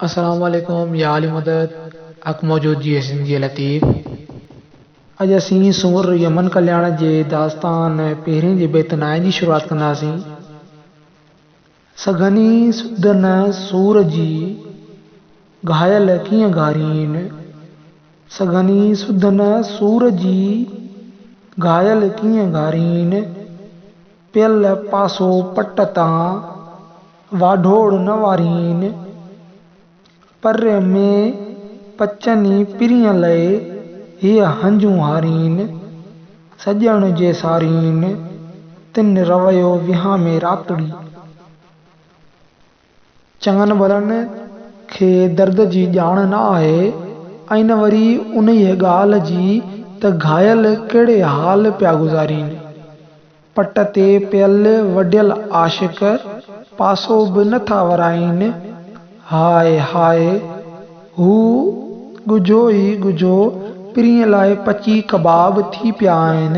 السلام عليڪم يا عالي مدد حق موجود جي سنڌيء لطيف اڄ اسين سنور يمن ڪلياڻ جي داستان پهرين جي بيت نائين جي شروعات ڪنداسين سگهني سڌ نه سور جي گهايل ڪيئن گهارين سگهني سڌ نه سور جي گهايل ڪيئن گهارين. پيل پاسو پٽ تان، واڍوڙ نه وارين. پر ۾ پچني پرينء لئي، هيء هنجون هارين. سڄڻ جي سارين، تن رويو وهامي راتڙي. چڱن ڀلن کي درد جي ڄاڻ نه آهي ۽ نه وري انهيء ڳالهه جي ته گهايل ڪهڙي حال پيا گذارين. پٽ تي پيل وڍيل عاشق پاسو به نه ٿا ورائين. High high! هو ڳجهو ئي ڳجهو پرينء لاء پچي ڪباب ٿي پيا آهن.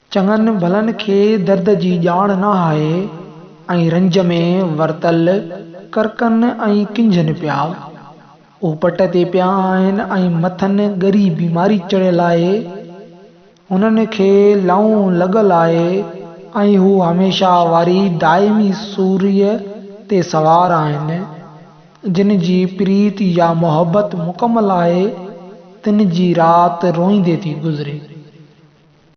چڱن ڀلن کي درد جي ڄاڻ نه آهي ۽ رنج ۾ ورتل ڪرڪن ۽ ڪنجهن پيا. هو پٽ تي پيا آهن ۽ مٿن ڳري بيماري چڙهيل آهي. هنن کي لئون لڳل آهي ۽ هو هميشه واري دائمي سوريء تي سوار آهن. جن جي پريت يا محبت مڪمل آهي، تن جي رات روئيندي ٿي گذري.